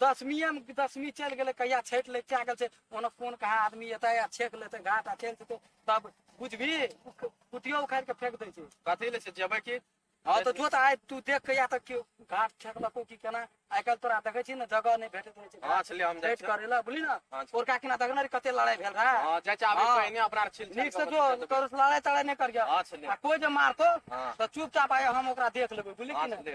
दसमीए मे दसमी चलि गेलै कहिया छठि लैके आ गेल छै ओना कोन कहाँ आदमी एतै आ छेक लेतै घाट आ चलि जेतै तब बुझबी उख- कुटियो उखाड़ि कऽ फेंक दै छै कथी ले छै जेबै की हँ तऽ जो तऽ आइ तू देख के या तऽ केओ घाट छेकलको की केना आइ काल्हि तोरा देखै छी ने जगह नहि भेटैत रहै छै हँ छलै हम जाइ छठि छियै करै लए बुझली ने हँ, छलै। ओरका किना देखने रही कते लड़ाइ भेल रहै हँ जाइ छै आबै हँ। पहिने अपना आर छिल नीक से जो करू लड़ाइ तड़ाइ नहि करिया हँ छलै आ कोइ जे मारतो हँ। तऽ चुपचाप आय हम ओकरा देख लेबै बुझली हँ की ने छलै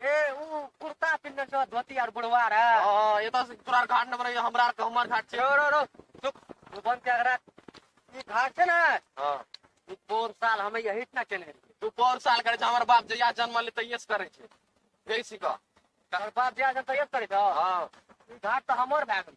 ए ऊ कुर्ता पिन्हने छ धोती आर बुढ़वा रे हाँ, ये तो तोरा घाट नंबर है हमरा के हमर घाट छे रो रो रो चुप तू बन के अगरा ई घाट छै ना हां ई पोर साल हमें यही ना चले रही तू पर साल करे छे हमर बाप जहिया जन्म ले तहिया से करे छे जैसी का तोहर बाप जे आजन तैयार करे छ हां ई घाट तो हमर भए गेल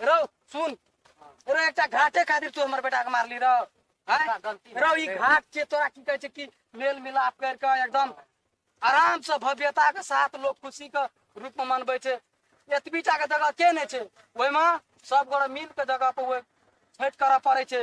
रौ सुन रौ एकटा घाटे खातिर तू हमर बेटा के मारली रौ हैं? हमरा गलती रौ ई भेल। घाट के तोरा की कहै छै कि मेल मिलाप कर के एकदम आराम से भव्यता के साथ लोग खुशी के रूप में मनबै छै एतबीटा के जगह के नहि छै ओहिमे सब गोरे मिल के जगह पर ओहि छठि करऽ पड़ै छै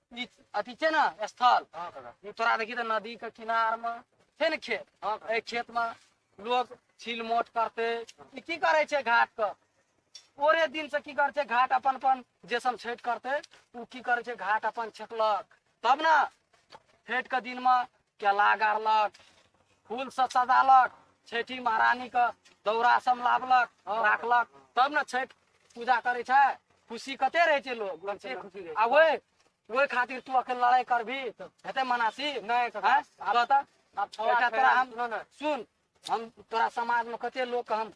ई अथी छै ने स्थल हाँ काका ई तोरा देखी तऽ नदी के किनार मे छै ने खेत हाँ काका एहि खेत मे लोग छील मोट करते ई की करे छै घाट के ओरे दिन से की करे छै घाट अपन अपन जे सब छठ करते ओ की करे छै घाट अपन छेकलक तब ने छठ के दिन मे केला गाड़लक फूल से सजालक छठि महारानी के दौरा सब लाबलक राखलक तब ने छठि पूजा करे छै खुशी कते रहे छै लोग कते खुशी रहै छै। आ ओए ओए खातिर तू अखन लड़ाई करबी हेते मनासी नहि, कका। हैं? आब तऽ आब छौ एकटा आठ तोरा हम सुनो ने सुन हम तोरा समाज में कते लोग के हम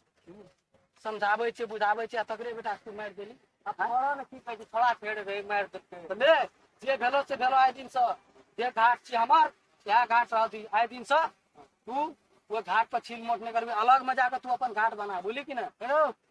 समझाबै छियै बुझाबै छियै आ तकरे बेटा तू मारि देली आ तोरा ने की कहै छै छोड़ा फेर रे मारि देलकै तऽ ले जे भेलो से भेलो आइ दिन से जे घाट छी हमर इएह घाट रहल छी आइ दिन से तू ओ घाट पर छील मोट नहि करबी अलग में जाके तू अपन घाट बना बुझली कि ने हेलो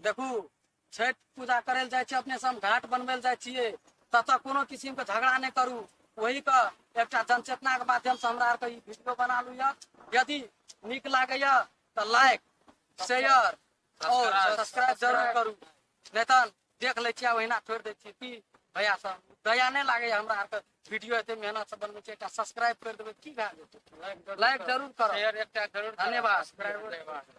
देखू छठि पूजा करै लए जाइ छियै अपने सब घाट बनबै लए जाइ छियै ततऽ कोनो किसिम के झगड़ा नहि करू ओही के एकटा जनचेतना के माध्यम से हमरा आरके ई वीडियो बना लू यऽ यदि नीक लागैया तऽ लाइक शेयर और सब्सक्राइब जरूर करू नहि तऽ देख लै छियै ओहिना छोड़ि दै छियै की भैया सब दया नहि लागैया हमरा आरके वीडियो एते मेहनत से बनबै छियै एकटा सब्सक्राइब करि देबै की भए जेतै लाइक जरूर करब शेयर एकटा जरूर धन्यवाद। धन्यवाद